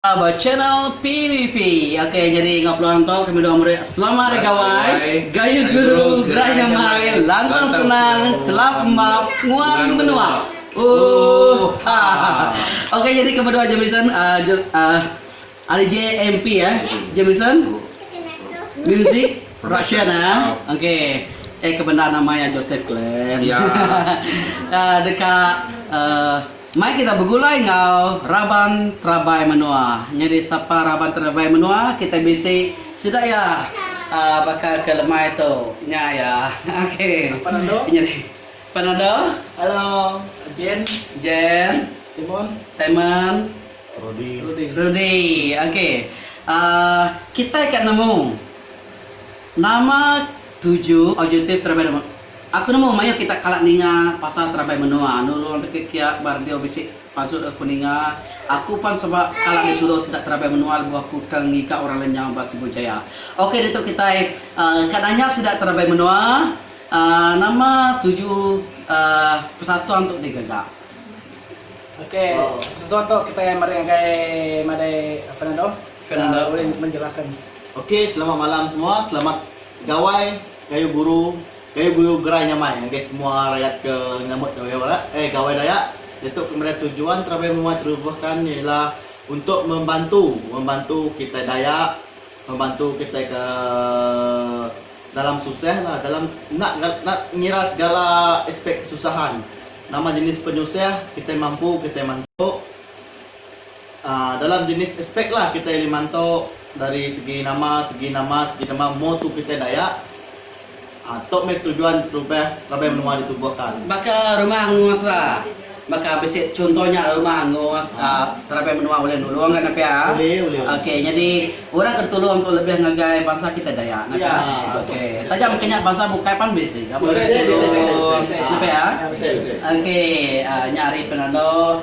Ba channel PVP ok jadi enggau peluang tu kami doa meri selamat hari gawai gaya guru gerai nyamai lantang senang celap embap nguan menua uuh hahaha ok jadi kami doa Jamison uhh ari JMP eh Jamison music production eh ok eh kebendar nama iya Joseph Clem uhh deka uhh. Mai kita begulai enggau raban terabai menua. Nyadi sapa raban terabai menua kita bisi sida iya baka ke lemai tu nya iya. Okey. Pan ando. Nyadi pan ando. Hello. Jen. Jen. Simon. Simon. Rudi. Rudi. Rudi. Okey. Uh, kitai ka nemu nama tuju objektif terabai Aku nemu mayuh kita kala ninga pasal terabai menua nulung deka kia ba radio bisi pazut aku ninga aku pan suba kala dituru sida terabai menua lebuh aku ke ngiga orang lenyau ba Sibu Jaya ok ditu kitai ka nanya sida terabai menua nama tuju persatuan tu digaga. Ok persatuan tu kitai meri ngagai madai Fernando ulih menjelaskan. Ok selamat malam semua selamat gawai Gayu guru, gayu guyu gerai nyamai ngagai semua rayat ke nyambut Gawai Dayak diatu ke meda tujuan terabai menua Terubuhkan iya ila untuk membantu membantu kitai Dayak membantu kitai ke dalam susah lah dalam enda enda ngira segala aspek kesusahan nama jenis penyusah kitai mampu kitai mantu. Dalam jenis aspek lah kitai ulih mantu dari segi nama segi nama segi nama mutu kitai Dayak. Tu meh tujuan perubah raban menua ditubuhka. Baka rumah angus la. Baka bisi chunto nya rumah angus raban menua ulih nulung ga nah pia. Ok nyadi orang ke ditulung tu lebih ngagai bansa kitai Dayak nah pia. Ok taja mungkin nya bansa bukai pan bisi ga bisi tulung nah pia. Ok nya ari Fernando.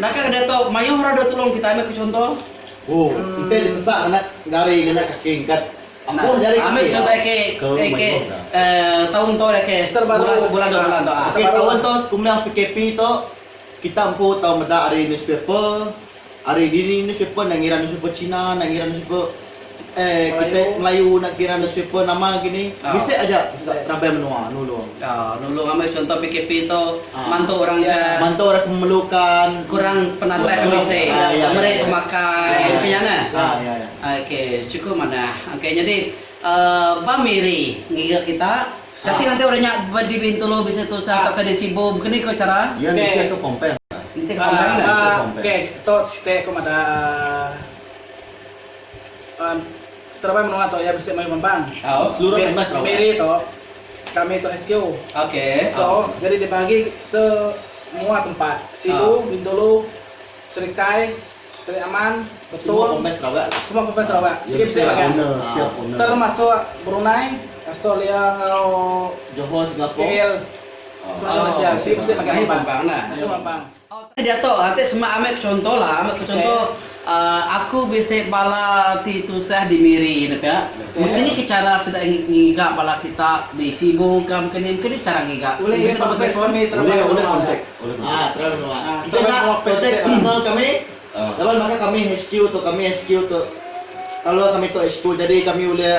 Naka ke diatu mayuh orang dau tulung kitai meh ku chunto. Ku enti ditesa nganak jari nganak kaki engkat ampuh jari kaki. Ambi ku chunto eke eke taun tu eke sebulan dua bulan tu. Eke taun tu sekumeh PKP tu kita empu tau meda ari newspaper ari dini newspaper enda ngira newspaper china enda ngira newspaper. Kitai Melayu enda kira newspaper nama agi ni, bisi aja raban menua nulung. Nulung amai chunto PKP tu mantu orang ke. Mantu orang ke memerlukan. Kurang penatai ke bisi. Meri pemakai nya kinya neh. Okey chukup manah. Okey nyadi ba Miri ngiga kita kati ngagai orang nya ba di Bintulu bisi tusah tauka di Sibu baka ni ko chara. Iya nitih ko Pompang. Nitih ko Pompang. Okey tu siti ko madah. Teramai menua tu iya bisi mayuh mambang. Miri tu kami tu HQ. So jadi dibagi se mua tempat. Sibu, Bintulu, Serikai, Seri Aman, Betong, semua Province Sarawak. Sigi bisi bagan. Termasuk Brunei, Australia enggau KL semua Malaysia. Sigi bisi bagan mambang. Utai diatu ati semak ambil chonto lah ambil ke chonto aku bisi bala ti tusah di Miri ne ka mungkin ni ke chara sida ngiga bala kita di Sibu ka mungkin ni mungkin ni chara ngiga bisi nombor telefon ulih ulih kontak tera menua enti enda kontak personal kami laban baka kami HQ tu kami HQ tu kalo kami tu HQ jadi kami ulih.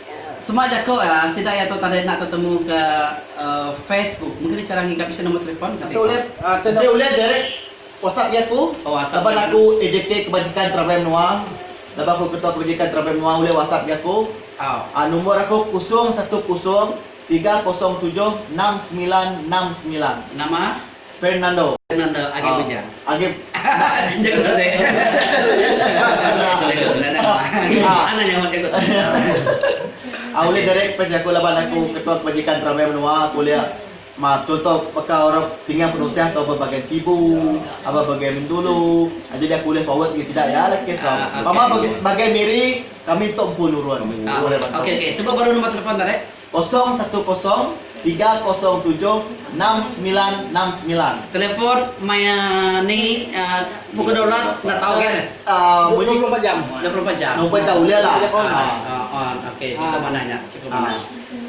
Sema jaku sida iya tu tadi enda tetemu ke Facebook. Mungkin nya chara ngiga bisi nombor telefon ka deka. Enti ulih Derek WhatsApp iya aku laban aku AJK Kebajikan Travel Menua laban aku Ketua Kebajikan Travel Menua ulih WhatsApp iya aku nombor aku kosong satu kosong tiga kosong tujuh enam semilan enam semilan. Nama. Fernando. Fernando agi bujang. Agi jaku tadi. Mana nyaut jaku tadi. Ah ulih derek pes jaku laban aku Ketua Kebajikan Peramai Menua aku ulih ma contoh baka orang tinggal penusah tau bebagai Sibu, aba bagai Bintulu. Ah jadi aku ulih forward ngagai sida iya lah kes tau. Pama bagai miri kami tu empu nurun. Okey okey sebut baru nombor telefon tu deh. Kosong satu kosong tiga kosong tujuh enam semilan enam semilan. Telepon maya ni pukul dua belas enda tau ke. Dua puluh empat jam. Dua puluh empat jam. Number enda ulih lah. Okey cukup manah nya. Cukup manah.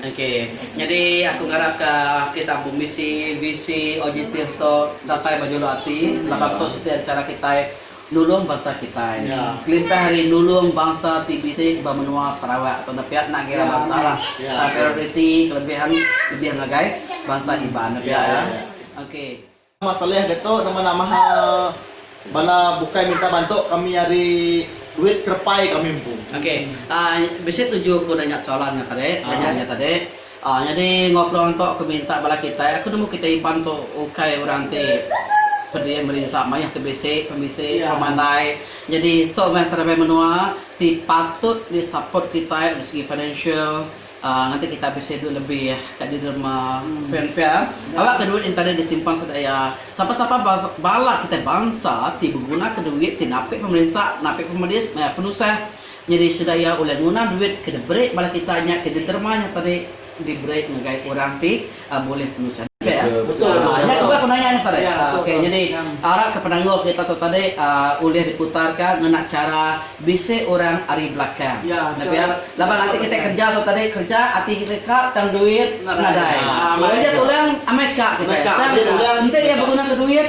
Okey. Nyadi aku ngarap ka kita pemisi bisi OJT tu datai bejuluk ati laban tu siti ari chara kitai. Nulung bansa kitai. Kelintah ari nulung bansa ti bisi ba menua Sarawak tu nepia enda kira bansa lah. Tang prioriti kelebih an lebih ngagai bansa Iban nepia iya. Okey. Nama Saleh dia tu nama nama bala bukai minta bantu kami ari duit kerepai kami empu. Okey. Bisi tuju ku nanya soalan nya tadi, nanya nya tadi. Aa nyadi enggau peluang tu aku minta bala kitai, aku nemu kitai Iban tu ukai orang ti pediam merinsa mayuh ke bisi pemisi pemandai nyadi tu meh terabai menua ti patut di support kitai dari segi financial aa ngagai kitai bisi duit lebih ka di derma pen pia aba ke duit enta deh disimpan sedaya sapa sapa bala kitai bansa ti begunaka duit ti napi pemerinsa napi pemedis maya penusah Nyadi sida iya ulih nguna duit ke diberi bala kita nya ke diterima nya tadi diberi ngagai orang ti bulih penusah diri. Nya tubah ku naya nya tadi. Okey nyadi arap ke penanggul kita tu tadi ulih diputarka ngena chara bisi orang ari belakang. Nya pia laban ati kita kerja tu tadi kerja ati kita ka tang duit nadai. Ulih aja tulung amai ka kita tang enti iya begunaka duit.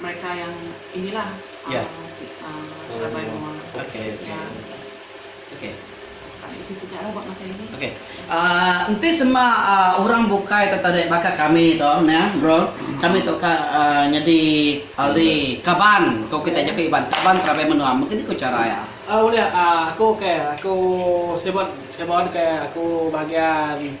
Mereka yang ini lah Ya. Um, rabai menua. Okey. Ya. Okey. Uh, itu sejarah buat masa ini. Okey. Uh, enti sema uh, orang bukai tu tadi baka kami tu ya, bro. Hmm. Kami tu ka uh, nyadi ahli kaban. Kau kita jaku iban kaban rabai menua. Mungkin ku cara ya. Uh, boleh uh, aku okey. Aku sebut sebut ke aku bahagian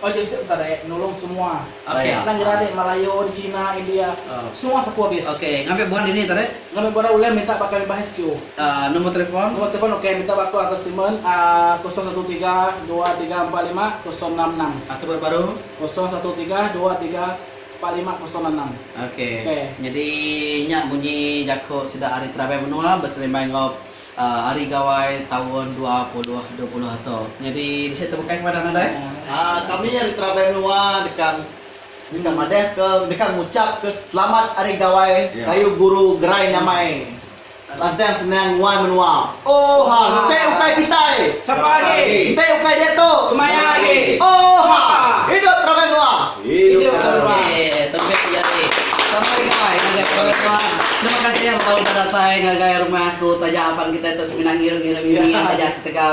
Paju situ entah daek nulung semua nang nyeradik malayo di china india semua sapu habis. Okay ngambi buhan dini tadi. Ngambi buhan ulih minta ba kami bah HQ. Nombor telefon. Nombor telefon okay minta ba aku atas statement kosong satu tiga dua tiga empat lima kosong enam enam. Sebut baru. Kosong satu tiga dua tiga empat lima kosong enam enam. Okay. Nyadi nya bunyi jaku sida ari terabai menua beselimbai enggau. Hari Gawai taun dua puluh dua puluh atu nyadi bisi tebukai kepada nadai. Kami ari Terabai Menua deka deka madahka deka ngucapka selamat Hari Gawai kayu guru gerai nyamai lantang senang nguai menua. Oha enti ukai kitai sapa agi enti ukai diatu kemaya agi. Oha hidup Terabai Menua. Idup ke orang. Okey, tembiak ti jadi. Sama agi gawai ngagai kepala tua. Terima kasih iya betau udah datai ngagai rumah aku taja aban kitai tu semina ngiru ngiru mimi amat aja ketegal.